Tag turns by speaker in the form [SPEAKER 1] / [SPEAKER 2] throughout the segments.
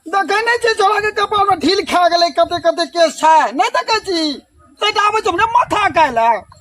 [SPEAKER 1] देखे नहीं छी छोड़ा के कपाल में ढील खा गए कते कते केस है नहीं देखे छी ते आबे तुमने माथा काला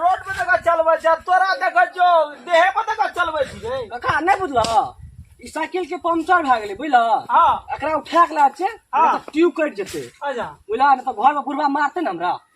[SPEAKER 1] रोड पे तक चलबै छै तोरा देखै छौ देहे पे तक चलबै छी रे कका नहि बुझलह
[SPEAKER 2] ई साइकिल के पंचर भए गेलै बुझलह हाँ एकरा उठा
[SPEAKER 1] के ला
[SPEAKER 2] छै ट्यूब कटि जेतै अच्छा बुझलह नहि तऽ
[SPEAKER 1] घर में
[SPEAKER 2] बुढ़वा मारतै ने हमरा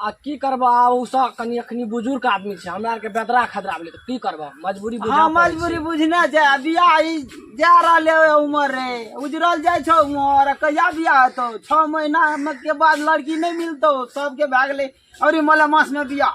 [SPEAKER 1] आ की करबो
[SPEAKER 2] आ उ सब कनी अखनी बुजुर्ग आदमी छै हमरा आर के बेदरा खदरा भेलै तऽ की करबो मजबूरी बुझा हाँ मजबूरी बुझना
[SPEAKER 1] छै आ बियाह ई जा रहले है उमर रे उजरल जाइ छौ उमर आ कहिया बियाह हेतौ छओ महीना मे के बाद लड़की नहि मिलतौ सबके भए गेलै अरे मलेमास मे बियाह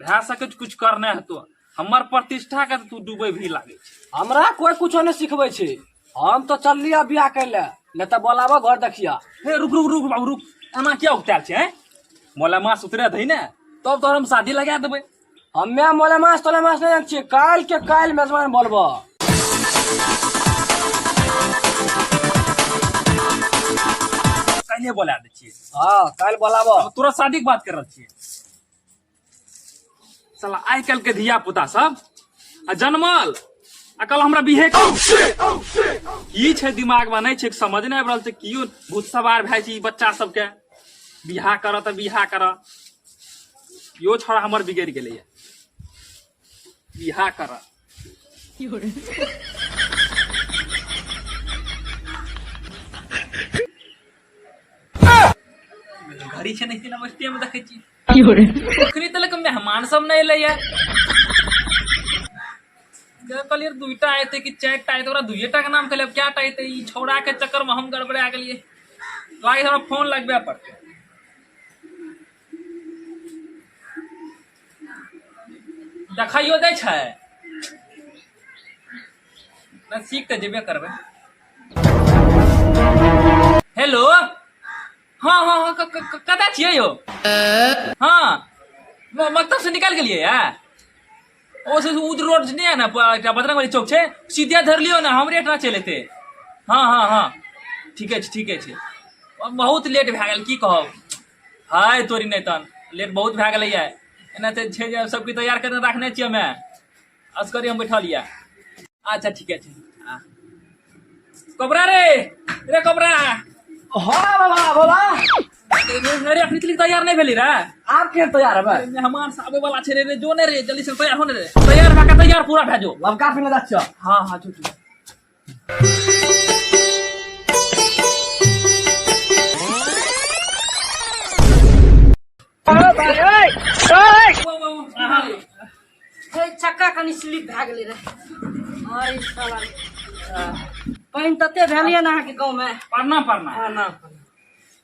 [SPEAKER 3] भए सकै छै किछु करने हेतो हमर प्रतिष्ठा के तू डूबे भी लागे हमरा कोई कुछो
[SPEAKER 2] नहीं सिखबे छै हम तो चललिया बियाह कर ले नहीं तो बोलाबो घर देखिया हे रुक रुक रुक
[SPEAKER 3] बाबू रुक एना क्या उतार छै हैं मोला मास उतरे दही ने तब तो हम शादी लगा देबे हम्मे मोला
[SPEAKER 2] मास तोला मास नहीं जान छियै काल के काल मेजबान बोलबो
[SPEAKER 3] कहिए बोला दे छियै हां काल बोलाबो
[SPEAKER 2] तोरा शादी के बात कर
[SPEAKER 3] रहल छियै साला आइ काल्हि के धिया पुता सब आ जनमल आ कल हमरा बिहे की छै दिमाग में नहीं छै समझ नहीं आबि रहल छै कियो भूत सवार भए छै बच्चा सबके बिहा करऽ तऽ बिहा करऽ यो छोड़ा हमर बिगड़ गेलै इहा करा घड़ी छै नहि सिना बस्ती में देखै छी अखनी तलक मेहमान सब नहि एलै यार कहलियै दुइटा एतै कि चारि टा एतै ओकरा दुइए टा के नाम कहलियै क्या टा एतै ई छौड़ा के चक्कर में हम गड़बड़ा गेलियै लागै हमरा फोन लगबे पड़तै देखाइयो दै छै नहि सीख तऽ जेबे करबै हेलो हँ हँ हँ क- क- क- कतऽ छियै यौ हँ म- मकतबसँ निकलि गेलियै या ओ से उद रोड जे नहि है ने प- एकटा बजरंग वाली चौक छै सीधे धर लियो ने हमरे एकटा चलि एतै हँ हँ हँ ठीके छै ठीके छै बहुत लेट भए गेल की कहब हाय तोरी नहि तन लेट बहुत भए गेलैए एना तऽ छै जे सभके तैयार करने राखने छियै हमे असगरे हम बैठल यऽ अच्छा ठीके छै आ। कपड़ा रे रे कपड़ा हँ
[SPEAKER 2] बाबा बोला
[SPEAKER 3] अरे अखनी तलिक तैयार नहि भेली रे आब के तैयार
[SPEAKER 2] हेबै मेहमान से आबे वाला छै रे
[SPEAKER 3] रे जो ने रे जल्दी से तैयार हो ने रे तैयार भए के तैयार पूरा भए जो लमका फिर जा छियौ
[SPEAKER 2] हाँ हाँ जो जो
[SPEAKER 4] चक्का कनि स्लिप भए गेलै रहै साला पानि तते भेल यऽ ने अहाँके गाँवमे प्रणाम प्रणाम प्रणाम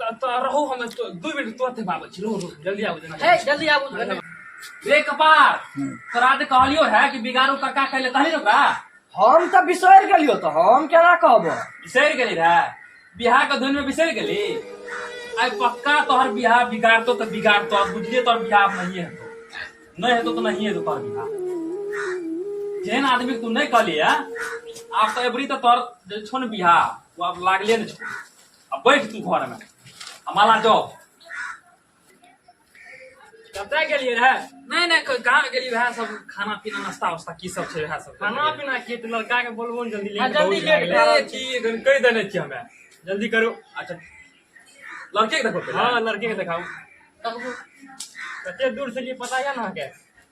[SPEAKER 5] रहो
[SPEAKER 3] हम दू मिनट तुरंत बाबा छी रहो रहो जल्दी आबो
[SPEAKER 4] जना हे जल्दी आबो रे
[SPEAKER 3] कपार तोरा जे कहलियो है कि बिगाड़ू काका कहले कहली रे बा हम त बिसर
[SPEAKER 2] गेलियो त हम केना कहबो बिसर गेली रे
[SPEAKER 3] बिहार के धुन में बिसर गेली आई पक्का तोहर बिहार बिगाड़ तो त बिगाड़ तो बुझले तोहर बिहार नहीं है नहीं है तो तो नहीं है तो तोहर बिहार जेन आदमी तू नहीं कहली है आप तो एबरी तो तोहर छोन बिहार वो आप लागले ने छोड़ अब बैठ तू घर में आ माला दो कतय
[SPEAKER 2] गेलियै रहे नहीं नहीं कोई गाँव
[SPEAKER 3] गेली वएह सब खाना पीना नाश्ता वास्ता की सब छै वएह सब खाना पीना की तऽ
[SPEAKER 2] लड़का के बोलबो ने जल्दी हाँ, लेट जल्दी बहुत लेट भए गेलै। करो।
[SPEAKER 4] की एखन कहि
[SPEAKER 2] देने छियै हमे जल्दी करू अच्छा
[SPEAKER 3] लड़के के देखो पहिले। हँ लड़के के देखाउ
[SPEAKER 2] कते दूर से लिए पता यऽ ने अहाँके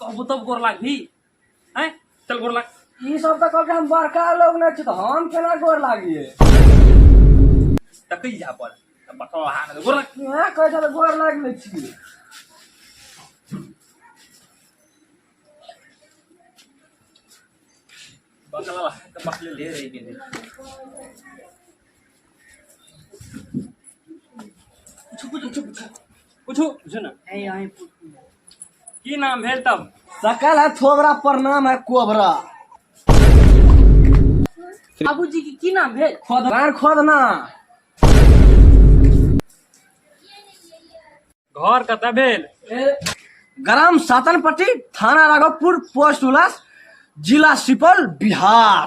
[SPEAKER 3] तब तब गोर लागबी हैं चल गोर लाग ई सब तऽ कहलकै हम
[SPEAKER 2] बड़का लोग नहि छी तऽ हम केना गोर लागिए
[SPEAKER 3] तकै जा पर पटो हाथ गोर लाग इहाँ कहै छल गोर
[SPEAKER 2] लागि लै छी बकला
[SPEAKER 3] बकले ले रही गेली
[SPEAKER 2] की नाम भेल तब सकल है थोबरा प्रणाम है कोबरा
[SPEAKER 4] बाबूजी के की नाम भेल खोद घर खोदना
[SPEAKER 2] घर कतऽ भेल ग्राम सातनपट्टी थाना राघवपुर पोस्ट उलास जिला सुपौल बिहार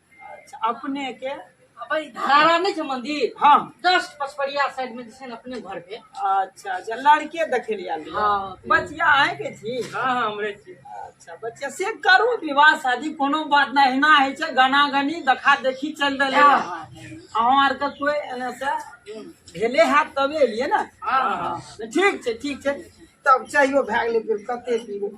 [SPEAKER 2] अपने
[SPEAKER 1] के
[SPEAKER 4] अब ई धरारा नहीं छे मंदिर हाँ जस्ट
[SPEAKER 1] पचपरिया
[SPEAKER 4] साइड में जैसे अपने घर पे अच्छा अच्छा
[SPEAKER 1] लड़के देखे लिया हाँ। बचिया
[SPEAKER 4] है के
[SPEAKER 1] छी हाँ हाँ हमरे छी
[SPEAKER 2] अच्छा बच्चा से
[SPEAKER 1] करू विवाह शादी कोनो बात ना हिना है छे गाना गनी देखा देखी चल रहे हाँ, हाँ, अहाँ आर के कोई एने से भेले है तबे एलिए ना हाँ, हाँ। ठीक छे ठीक छे तब चाहियो भए गेलै फिर कते पीबो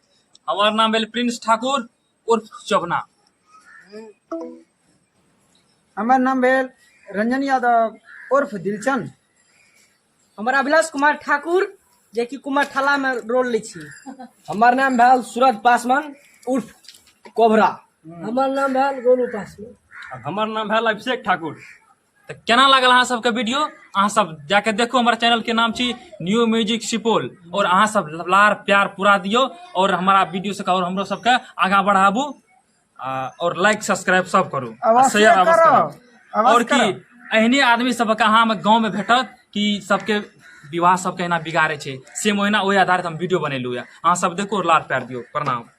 [SPEAKER 3] हमार नाम भेल प्रिंस ठाकुर उर्फ चौबना
[SPEAKER 1] हमार नाम भेल रंजन यादव उर्फ दिलचंद
[SPEAKER 4] हमार अभिलाष कुमार ठाकुर जे कि कुमार ठाला में रोल लै छी हमार नाम भेल
[SPEAKER 2] सूरज पासवान उर्फ कोबरा हमार नाम
[SPEAKER 4] भेल गोलू पासवान हमार नाम भेल अभिषेक
[SPEAKER 2] ठाकुर तऽ केना
[SPEAKER 3] लागल अहाँ सबके वीडियो अहाँ सब जाके देखू हमर चैनल के नाम छी न्यू म्यूजिक सुपौल और अहाँ सब लार प्यार पूरा दियो और हमारा वीडियो सबके और हमरो सबके आगा बढ़ाबू आ, और लाइक सब्सक्राइब सब करू आ अवश्य शेयर अवश्य करो, करू।
[SPEAKER 1] अवश्य
[SPEAKER 3] और
[SPEAKER 1] की करो।
[SPEAKER 3] एहने
[SPEAKER 1] आदमी
[SPEAKER 3] सबके अहाँ हम गाँव में भेटत कि सबके विवाह सबके एना बिगाड़े छै सेम ओहिना ओहि आधारित हम वीडियो बनेलू यऽ अहाँ सब देखू और लार प्यार दियो प्रणाम